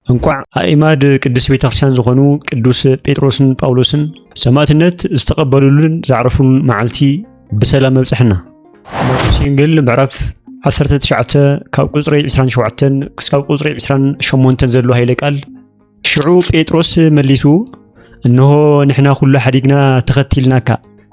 እንቋዕ ኣእማድ ቅድስት ቤተ ክርስቲያን ዝኾኑ ቅዱስ ጴጥሮስን ጳውሎስን ሰማእትነት ዝተቐበሉሉን ዘዕረፉሉን መዓልቲ ብሰላም መብጽሐና። ማቴዎስ ወንጌል ምዕራፍ 19 ካብ ቁጽሪ 27 ክሳብ ቁጽሪ 28 ዘሎ ኃይለ ቃል ሽዑ ጴጥሮስ መሊሱ እንሆ ንሕና ኩሉ ሓዲግና ተኸቲልናካ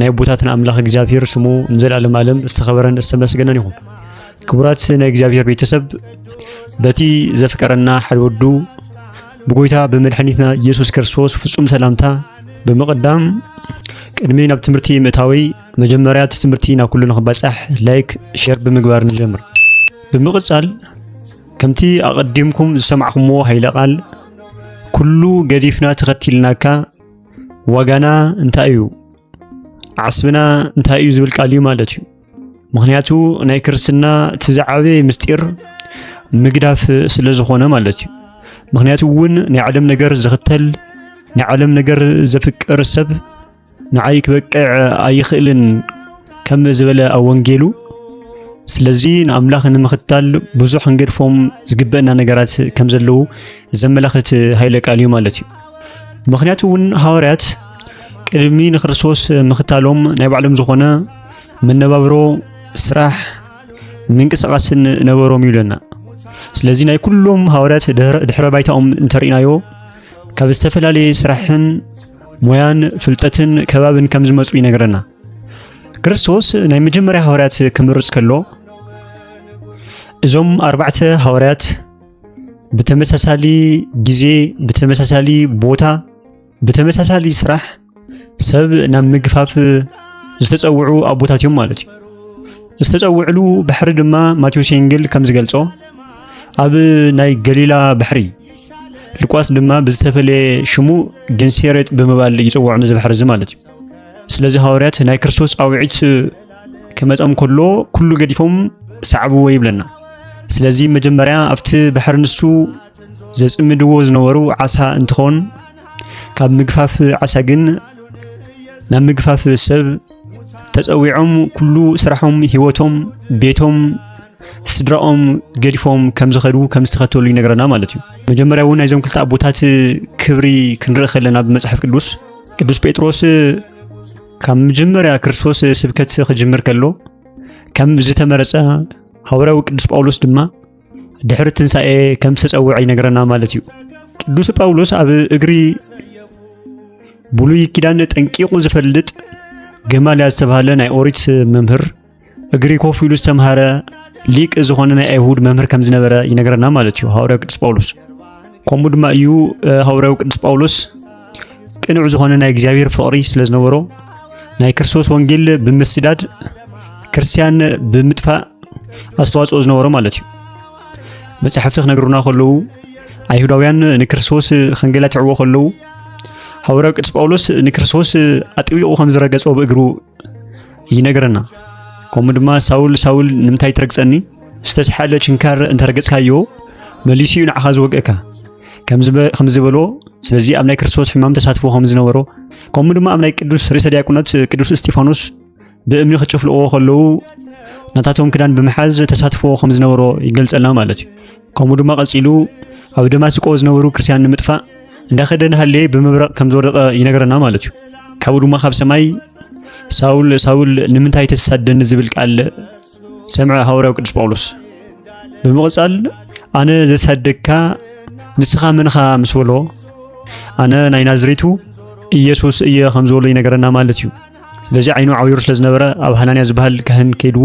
ናይ ኣቦታትና ኣምላኽ እግዚኣብሔር ስሙ ንዘለዓለም ዓለም ዝተኸበረን ዝተመስገነን ይኹን። ክቡራት ናይ እግዚኣብሔር ቤተሰብ በቲ ዘፍቀረና ሓደ ወዱ ብጎይታ ብመድሓኒትና ኢየሱስ ክርስቶስ ፍጹም ሰላምታ ብምቕዳም ቅድሚ ናብ ትምህርቲ ምእታዊ መጀመርያ እቲ ትምህርቲ ናብ ኩሉ ንኽባጻሕ ላይክ ሼር ብምግባር ንጀምር። ብምቕጻል ከምቲ ኣቐዲምኩም ዝሰማዕኹምዎ ሃይለ ቃል ኩሉ ገዲፍና ተኸቲልናካ ዋጋና እንታይ እዩ ዓስብና እንታይ እዩ ዝብል ቃል እዩ ማለት እዩ ምክንያቱ ናይ ክርስትና እቲ ዝዓበየ ምስጢር ምግዳፍ ስለ ዝኾነ ማለት እዩ ምክንያቱ እውን ናይ ዓለም ነገር ዝኽተል ናይ ዓለም ነገር ዘፍቅር ሰብ ንዓይ ክበቅዕ ኣይኽእልን ከም ዝበለ ኣብ ወንጌሉ ስለዚ ንኣምላኽ ንምኽታል ብዙሕ ክንገድፎም ዝግበአና ነገራት ከም ዘለዉ ዘመላኽት ሃይለ ቃል እዩ ማለት እዩ ምክንያቱ እውን ሃዋርያት ቅድሚ ንክርስቶስ ምኽታሎም ናይ ባዕሎም ዝኾነ መነባብሮ፣ ስራሕ፣ ምንቅስቓስን ነበሮም እዩ ይብለና። ስለዚ ናይ ኩሎም ሃዋርያት ድሕረ ባይታኦም እንተርኢናዮ ካብ ዝተፈላለየ ስራሕን ሞያን ፍልጠትን ከባብን ከም ዝመፁ ይነግረና። ክርስቶስ ናይ መጀመርያ ሃዋርያት ክምርፅ ከሎ እዞም ኣርባዕተ ሃዋርያት ብተመሳሳሊ ግዜ ብተመሳሳሊ ቦታ ብተመሳሳሊ ስራሕ ሰብ ናብ ምግፋፍ ዝተፀውዑ ኣቦታት እዮም ማለት እዩ ዝተፀውዕሉ ባሕሪ ድማ ማቴዎስ ወንጌል ከም ዝገልጾ ኣብ ናይ ገሊላ ባሕሪ ልቋስ ድማ ብዝተፈለየ ሽሙ ገንሴሬጥ ብምባል ይፅውዖ ነዚ ባሕሪ እዚ ማለት እዩ ስለዚ ሃዋርያት ናይ ክርስቶስ ፃውዒት ክመጾም ከሎ ኩሉ ገዲፎም ሰዓብዎ ይብለና። ስለዚ መጀመርያ ኣብቲ ባሕሪ ንሱ ዘጽምድዎ ዝነበሩ ዓሳ እንትኾን ካብ ምግፋፍ ዓሳ ግን ናብ ምግፋፍ ሰብ ተጸዊዖም ኩሉ ስራሖም፣ ህይወቶም፣ ቤቶም፣ ስድራኦም ገዲፎም ከም ዝኸዱ ከም ዝተኸተሉ ይነግረና ማለት እዩ። መጀመርያ እውን ናይዞም ክልተ ኣቦታት ክብሪ ክንርኢ ከለና ብመጽሓፍ ቅዱስ ቅዱስ ጴጥሮስ ካብ መጀመርያ ክርስቶስ ስብከት ክጅምር ከሎ ከም ዝተመረጸ ሃዋርያዊ ቅዱስ ጳውሎስ ድማ ድሕሪ ትንሣኤ ከም ዝተጸውዐ ይነግረና ማለት እዩ። ቅዱስ ጳውሎስ ኣብ እግሪ ብሉይ ኪዳን ጠንቂቑ ዝፈልጥ ገማልያ ዝተባህለ ናይ ኦሪት መምህር እግሪ ኮፍ ኢሉ ዝተምሃረ ሊቅ ዝኾነ ናይ ኣይሁድ መምህር ከም ዝነበረ ይነገረና ማለት እዩ ሃዋርያው ቅዱስ ጳውሎስ። ከምኡ ድማ እዩ ሃዋርያው ቅዱስ ጳውሎስ ቅኑዕ ዝኾነ ናይ እግዚኣብሔር ፍቕሪ ስለ ዝነበሮ ናይ ክርስቶስ ወንጌል ብምስዳድ ክርስቲያን ብምጥፋእ ኣስተዋጽኦ ዝነበሮ ማለት እዩ። መጻሕፍቲ ክነግሩና ከለዉ ኣይሁዳውያን ንክርስቶስ ከንገላትዕዎ ከለዉ ሃዋርያው ቅዱስ ጳውሎስ ንክርስቶስ ኣጥቢቑ ከም ዝረገጾ ብእግሩ ይነግረና። ከምኡ ድማ ሳውል ሳውል ንምንታይ ትረግጸኒ? ዝተስሓለ ችንካር እንተረገጽካዮ መሊሱ እዩ ንዓኻ ዝወግእካ ከም ዝበሎ ስለዚ ኣብ ናይ ክርስቶስ ሕማም ተሳትፎ ከም ዝነበሮ ከምኡ ድማ ኣብ ናይ ቅዱስ ርእሰ ዲያቆናት ቅዱስ እስጢፋኖስ ብእምኒ ክጭፍልዎ ከለዉ ናታቶም ክዳን ብምሓዝ ተሳትፎ ከም ዝነበሮ ይገልጸልና ማለት እዩ። ከምኡ ድማ ቀጺሉ ኣብ ደማስቆ ዝነበሩ ክርስትያን ንምጥፋእ እንዳኸደ ንሃለየ ብምብረቕ ከም ዝወደቐ ይነገረና ማለት እዩ ካብኡ ድማ ካብ ሰማይ ሳውል ሳውል ንምንታይ ተሳደኒ ዝብል ቃል ሰምዐ ሃዋርያው ቅዱስ ጳውሎስ ብምቕጻል ኣነ ዘሳደግካ ንስኻ መንኻ ምስ በሎ ኣነ ናይ ናዝሬቱ ኢየሱስ እየ ከም ዝበሎ ይነገረና ማለት እዩ ስለዚ ዓይኑ ዓውይሩ ስለ ዝነበረ ኣብ ሃናንያ ዝበሃል ካህን ከይዱ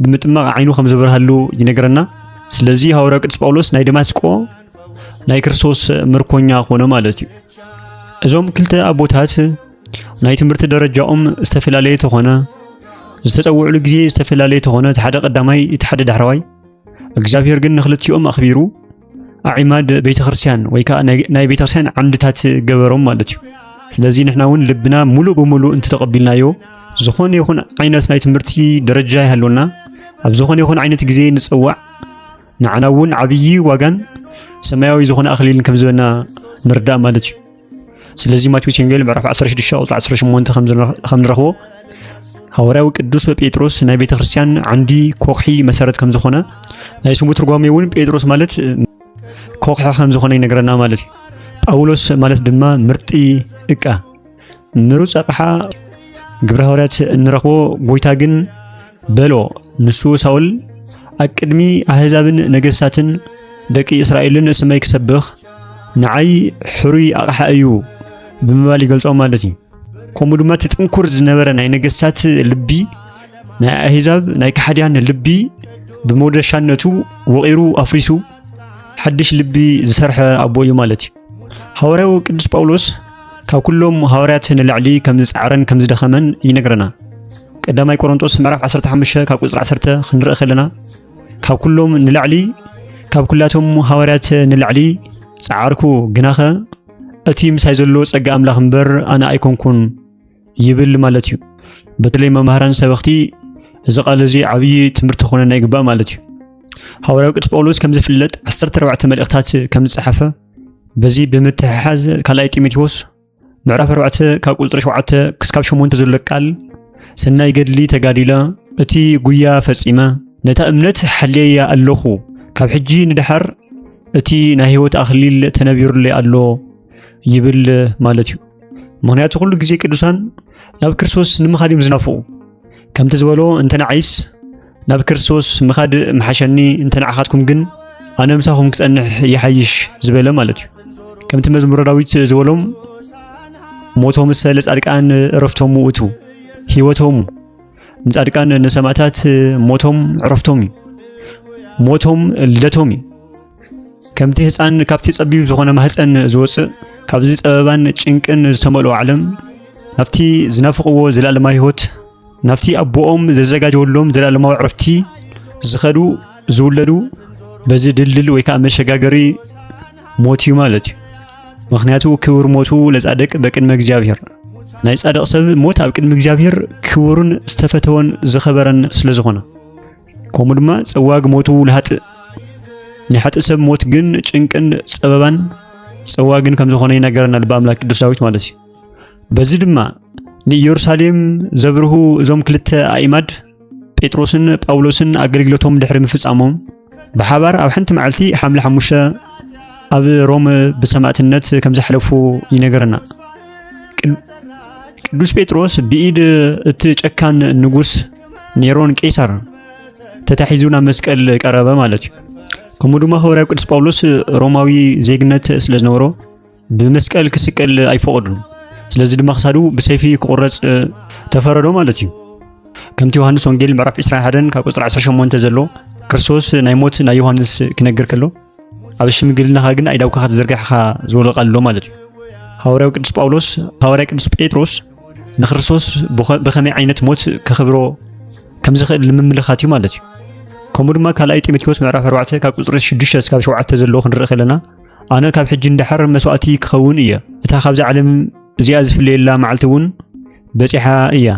ብምጥማቕ ዓይኑ ከም ዝበርሃሉ ይነገረና ስለዚ ሃዋርያ ቅዱስ ጳውሎስ ናይ ደማስቆ ናይ ክርስቶስ ምርኮኛ ኮነ ማለት እዩ እዞም ክልተ ኣቦታት ናይ ትምህርቲ ደረጃኦም ዝተፈላለየ ተኾነ ዝተጸውዕሉ ግዜ ዝተፈላለየ ተኾነ እቲ ሓደ ቀዳማይ እቲ ሓደ ዳሕረዋይ እግዚኣብሔር ግን ንክልቲኦም ኣኽቢሩ ኣዒማድ ቤተክርስትያን ወይ ከዓ ናይ ቤተክርስትያን ዓምድታት ገበሮም ማለት እዩ። ስለዚ ንሕና እውን ልብና ሙሉእ ብሙሉእ እንተተቐቢልናዮ ዝኾነ ይኹን ዓይነት ናይ ትምህርቲ ደረጃ ይሃለወና ኣብ ዝኾነ ይኹን ዓይነት ግዜ ንፀዋዕ ንዓና እውን ዓብዪ ዋጋን ሰማያዊ ዝኾነ ኣኽሊልን ከም ዝበና ምርዳእ ማለት እዩ። ስለዚ ማቴዎስ ወንጌል ምዕራፍ 16 ቁጽሪ 18 ከም ንረኽቦ ሃዋርያዊ ቅዱስ ጴጥሮስ ናይ ቤተ ክርስቲያን ዓንዲ ኮኽሒ መሰረት ከም ዝኾነ ናይ ስሙ ትርጓሜ እውን ጴጥሮስ ማለት ኮኽሒ ከም ዝኾነ ይነግረና ማለት እዩ። ጳውሎስ ማለት ድማ ምርጢ እቃ ምሩፅ ኣቕሓ ግብረ ሃዋርያት እንረኽቦ ጎይታ ግን በሎ። ንሱ ሳውል ኣብ ቅድሚ ኣህዛብን ነገሥታትን ደቂ እስራኤልን ስመይ ክሰብኽ ንዓይ ሕሩይ ኣቕሓ እዩ ብምባል ይገልጾ ማለት እዩ። ከምኡ ድማ እቲ ጥንኩር ዝነበረ ናይ ነገሥታት ልቢ ናይ ኣህዛብ ናይ ካሕድያን ልቢ ብመውደሻነቱ ወቒሩ ኣፍሪሱ ሓድሽ ልቢ ዝሰርሐ ኣቦ እዩ ማለት እዩ። ሃዋርያዊ ቅዱስ ጳውሎስ ካብ ኩሎም ሃዋርያት ንላዕሊ ከም ዝጸዓረን ከም ዝደኸመን ይነግረና። ቀዳማይ ቆሮንጦስ ምዕራፍ 15 ካብ ቁጽሪ 10 ክንርኢ ከለና ካብ ኩሎም ንላዕሊ ካብ ኩላቶም ሃዋርያት ንላዕሊ ጸዓርኩ ግናኸ እቲ ምሳይ ዘሎ ጸጋ ኣምላኽ እምበር ኣነ ኣይኮንኩን ይብል ማለት እዩ። በተለይ መምህራን ሰበኽቲ እዚ ቃል እዚ ዓብዪ ትምህርቲ ክኾነና ይግባእ ማለት እዩ። ሃዋርያዊ ቅዱስ ጳውሎስ ከም ዝፍለጥ 14 መልእኽታት ከም ዝጸሓፈ በዚ ብምትሕሓዝ ካልኣይ ጢሞቴዎስ ምዕራፍ 4 ካብ ቁፅሪ 7 ክስካብ 8 ዘሎ ቃል ሰናይ ገድሊ ተጋዲለ እቲ ጉያ ፈጺመ ነታ እምነት ሓልየያ ኣለኹ ካብ ሕጂ ንድሓር እቲ ናይ ህይወት ኣኽሊል ተነቢሩለይ ኣሎ ይብል ማለት እዩ። ምክንያቱ ኩሉ ግዜ ቅዱሳን ናብ ክርስቶስ ንምኻድ እዮም ዝናፍቑ። ከምቲ ዝበሎ እንተ ንዓይስ ናብ ክርስቶስ ምኻድ ምሓሸኒ፣ እንተ ንዓኻትኩም ግን ኣነ ምሳኹም ክጸንሕ ይሓይሽ ዝበለ ማለት እዩ። ከምቲ መዝሙረ ዳዊት ዝበሎም ሞቶም እሰ ለጻድቃን ዕረፍቶሙ ውእቱ ህይወቶሙ ንጻድቃን ንሰማእታት ሞቶም ዕረፍቶም እዩ ሞቶም ልደቶም እዩ ከምቲ ህፃን ካብቲ ጸቢብ ዝኾነ ማህፀን ዝወፅእ ካብዚ ጸበባን ጭንቅን ዝተመልኦ ዓለም ናብቲ ዝናፍቕዎ ዘላለማዊ ህይወት ናብቲ ኣቦኦም ዘዘጋጀወሎም ዘላለማዊ ዕረፍቲ ዝኸዱ ዝውለዱ በዚ ድልድል ወይ ከዓ መሸጋገሪ ሞት እዩ ማለት እዩ። ምክንያቱ ክብር ሞቱ ለጻድቅ በቅድመ እግዚኣብሔር ናይ ጻድቕ ሰብ ሞት ኣብ ቅድሚ እግዚኣብሔር ክቡርን ዝተፈተወን ዝኸበረን ስለ ዝኾነ ከምኡ ድማ ጸዋግ ሞቱ ንሃጥእ ንሓጥእ ሰብ ሞት ግን ጭንቅን ጸበባን ጸዋግን ከም ዝኾነ ይነገረና ልበ ኣምላክ ቅዱስ ዳዊት ማለት እዩ። በዚ ድማ ንኢየሩሳሌም ዘብርሁ እዞም ክልተ ኣእማድ ጴጥሮስን ጳውሎስን ኣገልግሎቶም ድሕሪ ምፍጻሞም ብሓባር ኣብ ሓንቲ መዓልቲ ሓምለ ሓሙሽተ ኣብ ሮም ብሰማእትነት ከም ዘሕለፉ ይነገረና። ቅዱስ ጴጥሮስ ብኢድ እቲ ጨካን ንጉስ ኔሮን ቄሳር ተታሒዙ ናብ መስቀል ቀረበ ማለት እዩ ከምኡ ድማ ሃዋርያው ቅዱስ ጳውሎስ ሮማዊ ዜግነት ስለ ዝነበሮ ብመስቀል ክስቀል ኣይፈቐዱን ስለዚ ድማ ክሳዱ ብሰይፊ ክቑረፅ ተፈረዶ ማለት እዩ ከምቲ ዮሃንስ ወንጌል ምዕራፍ 21 ካብ ቁፅሪ 18 ዘሎ ክርስቶስ ናይ ሞት ናይ ዮሃንስ ክነግር ከሎ ኣብ ሽምግልናኻ ግን ኣይዳውካኻ ተዘርጋሕኻ ዝወለቐ ኣሎ ማለት እዩ ሃዋርያው ቅዱስ ጳውሎስ ሃዋርያ ቅዱስ ጴጥሮስ ንክርስቶስ ብኸመይ ዓይነት ሞት ከኽብሮ ከም ዝኽእል ንምምልኻት እዩ ማለት እዩ ከምኡ ድማ ካልኣይ ጢሞቴዎስ ምዕራፍ 4 ካብ ቁፅሪ 6 እስካብ 7 ዘለዎ ክንርኢ ከለና ኣነ ካብ ሕጂ እንዳሓር መስዋእቲ ክኸውን እየ እታ ካብዛ ዓለም እዚኣ ዝፍለየላ መዓልቲ እውን በፂሓ እያ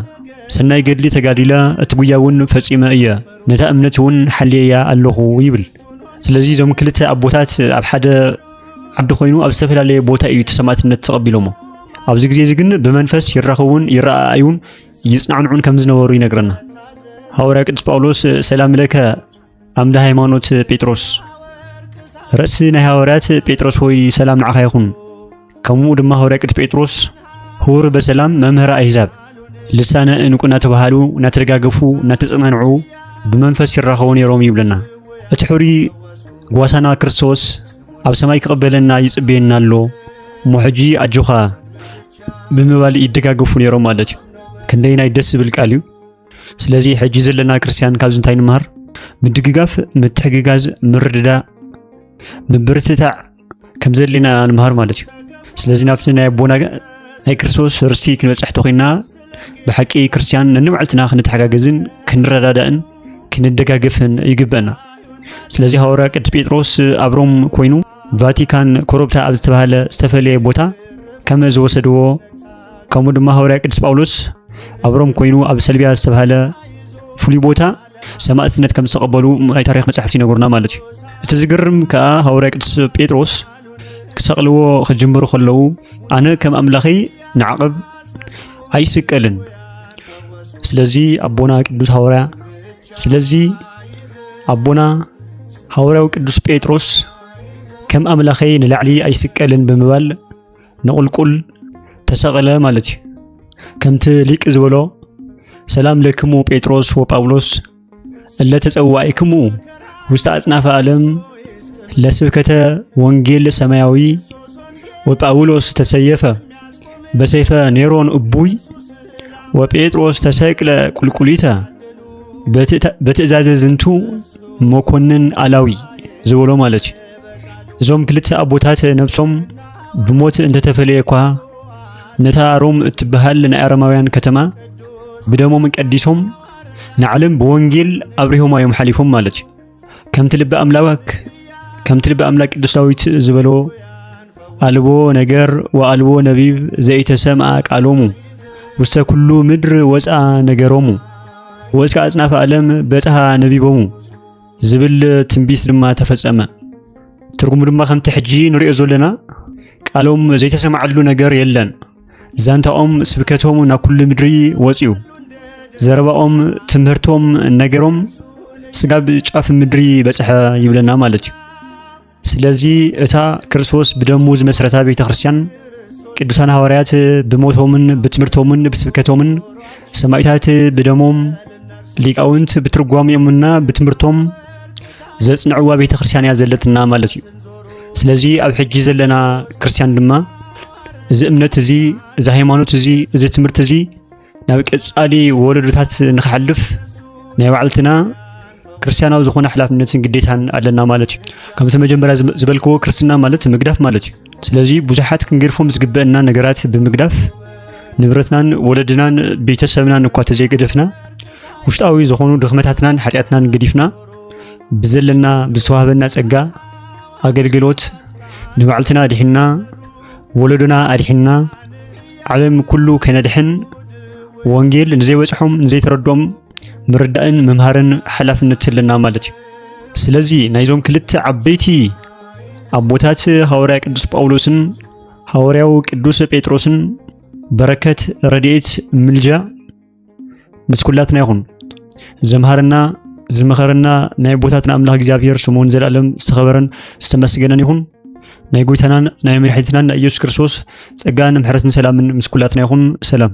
ሰናይ ገድሊ ተጋዲላ እቲ ጉያ እውን ፈፂመ እየ ነታ እምነት እውን ሓልየያ ኣለኹ ይብል ስለዚ እዞም ክልተ ኣቦታት ኣብ ሓደ ዓዲ ኮይኑ ኣብ ዝተፈላለየ ቦታ እዩ እቲ ሰማእትነት ተቐቢሎሞ ኣብዚ ግዜ እዚ ግን ብመንፈስ ይራኸቡን ይረኣኣዩን ይጽናዕንዑን ከም ዝነበሩ ይነግረና ሃዋርያ ቅዱስ ጳውሎስ ሰላም ለከ ኣምደ ሃይማኖት ጴጥሮስ ርእሲ ናይ ሃዋርያት ጴጥሮስ ሆይ ሰላም ንዓኻ ይኹን ከምኡ ድማ ሃዋርያ ቅዱስ ጴጥሮስ ሁር በሰላም መምህር ኣሕዛብ ልሳነ እንቁ እናተባሃሉ እናተደጋገፉ እናተጸናንዑ ብመንፈስ ይራኸቡ ነይሮም ይብለና። እቲ ሕሪ ጓሳና ክርስቶስ ኣብ ሰማይ ክቕበለና ይጽበየና ኣሎ እሞ ሕጂ ኣጆኻ ብምባል ይደጋገፉ ነይሮም ማለት እዩ። ክንደይ ናይ ደስ ዝብል ቃል እዩ። ስለዚ ሕጂ ዘለና ክርስትያን ካብዚ እንታይ ንምሃር? ምድግጋፍ፣ ምትሕግጋዝ፣ ምርድዳእ፣ ምብርትታዕ ከም ዘድልና ንምሃር ማለት እዩ ስለዚ ናብቲ ናይ ኣቦና ናይ ክርስቶስ ርስቲ ክንበፅሕ ተኮይና ብሓቂ ክርስትያን ነንባዕልትና ክንተሓጋገዝን ክንረዳዳእን ክንደጋገፍን ይግበአና ስለዚ ሃዋርያ ቅዱስ ጴጥሮስ ኣብ ሮም ኮይኑ ቫቲካን ኮረብታ ኣብ ዝተባሃለ ዝተፈለየ ቦታ ከም ዝወሰድዎ ከምኡ ድማ ሃዋርያ ቅዱስ ጳውሎስ ኣብ ሮም ኮይኑ ኣብ ሰልቢያ ዝተባሃለ ፍሉይ ቦታ ሰማእትነት ከም ዝተቐበሉ ናይ ታሪኽ መጻሕፍቲ ይነግሩና ማለት እዩ። እቲ ዝግርም ከኣ ሃዋርያ ቅዱስ ጴጥሮስ ክሰቕልዎ ክጅምሩ ከለዉ ኣነ ከም ኣምላኸይ ንዓቕብ ኣይስቀልን። ስለዚ ኣቦና ቅዱስ ሃዋርያ ስለዚ ኣቦና ሃዋርያው ቅዱስ ጴጥሮስ ከም ኣምላኸይ ንላዕሊ ኣይስቀልን ብምባል ንቑልቁል ተሰቐለ ማለት እዩ። ከምቲ ሊቅ ዝበሎ ሰላም ለክሙ ጴጥሮስ ወጳውሎስ እለ ተጸዋኢክሙ ውስተ ኣጽናፈ ዓለም ለስብከተ ወንጌል ሰማያዊ ወጳውሎስ ተሰየፈ በሰይፈ ኔሮን እቡይ ወጴጥሮስ ተሰቅለ ቁልቁሊተ በትእዛዘ ዝንቱ መኮንን ኣላዊ ዝበሎ ማለት እዩ። እዞም ክልተ ኣቦታት ነብሶም ብሞት እንተተፈለየ እኳ ነታ ሮም እትበሃል ናይ ኣረማውያን ከተማ ብደሞም ቀዲሶም ንዓለም ብወንጌል ኣብሪሆማ እዮም ሓሊፎም ማለት እዩ ከምቲ ልቢ ኣምላክ ከምቲ ልቢ ኣምላክ ቅዱስ ዳዊት ዝበሎ ኣልቦ ነገር ወኣልቦ ነቢብ ዘኢተሰምኣ ቃሎሙ ውስተ ኩሉ ምድሪ ወፅኣ ነገሮሙ ወእስከ ኣጽናፈ ዓለም በጽሓ ነቢቦሙ ዝብል ትንቢት ድማ ተፈጸመ። ትርጉሙ ድማ ከምቲ ሕጂ ንሪኦ ዘለና ቃሎም ዘይተሰማዓሉ ነገር የለን። ዛንታኦም ስብከቶም ናብ ኩሉ ምድሪ ወጽዩ። ዘረባኦም፣ ትምህርቶም፣ ነገሮም ስጋብ ጫፍ ምድሪ በጽሐ ይብለና ማለት እዩ። ስለዚ እታ ክርስቶስ ብደሙ ዝመስረታ ቤተ ክርስቲያን ቅዱሳን ሃዋርያት ብሞቶምን ብትምህርቶምን ብስብከቶምን ሰማይታት ብደሞም ሊቃውንት ብትርጓሚኦምና ብትምህርቶም ዘጽንዕዋ ቤተ ክርስቲያን እያ ዘለትና ማለት እዩ። ስለዚ ኣብ ሕጂ ዘለና ክርስቲያን ድማ እዚ እምነት እዚ እዚ ሃይማኖት እዚ እዚ ትምህርቲ እዚ ናብ ቀጻሊ ወለዶታት ንክሓልፍ ናይ ባዕልትና ክርስትያናዊ ዝኾነ ሓላፍነትን ግዴታን ኣለና ማለት እዩ ከምቲ መጀመርያ ዝበልክዎ ክርስትና ማለት ምግዳፍ ማለት እዩ ስለዚ ብዙሓት ክንገድፎም ዝግበአና ነገራት ብምግዳፍ ንብረትናን ወለድናን ቤተሰብናን እኳ ተዘይገደፍና ውሽጣዊ ዝኾኑ ድኽመታትናን ሓጢኣትናን ገዲፍና ብዘለና ብዝተዋህበና ጸጋ ኣገልግሎት ንባዕልትና ኣድሒና ወለዶና ኣድሒና ዓለም ኩሉ ከነድሕን ወንጌል ንዘይበጽሖም ንዘይተረዶም ምርዳእን ምምሃርን ሓላፍነት ኣለና ማለት እዩ። ስለዚ ናይዞም ክልተ ዓበይቲ ኣቦታት ሃዋርያ ቅዱስ ጳውሎስን ሃዋርያው ቅዱስ ጴጥሮስን በረከት፣ ረድኤት፣ ምልጃ ምስ ኩላትና ይኹን። ዘምሃረና ዝመኸረና ናይ ቦታትና ኣምላኽ እግዚኣብሔር ስሙን ዘላለም ዝተኸበረን ዝተመስገነን ይኹን። ናይ ጎይታናን ናይ መድሕኒትናን ናይ ኢየሱስ ክርስቶስ ጸጋን ምሕረትን ሰላምን ምስ ኩላትና ይኹን። ሰላም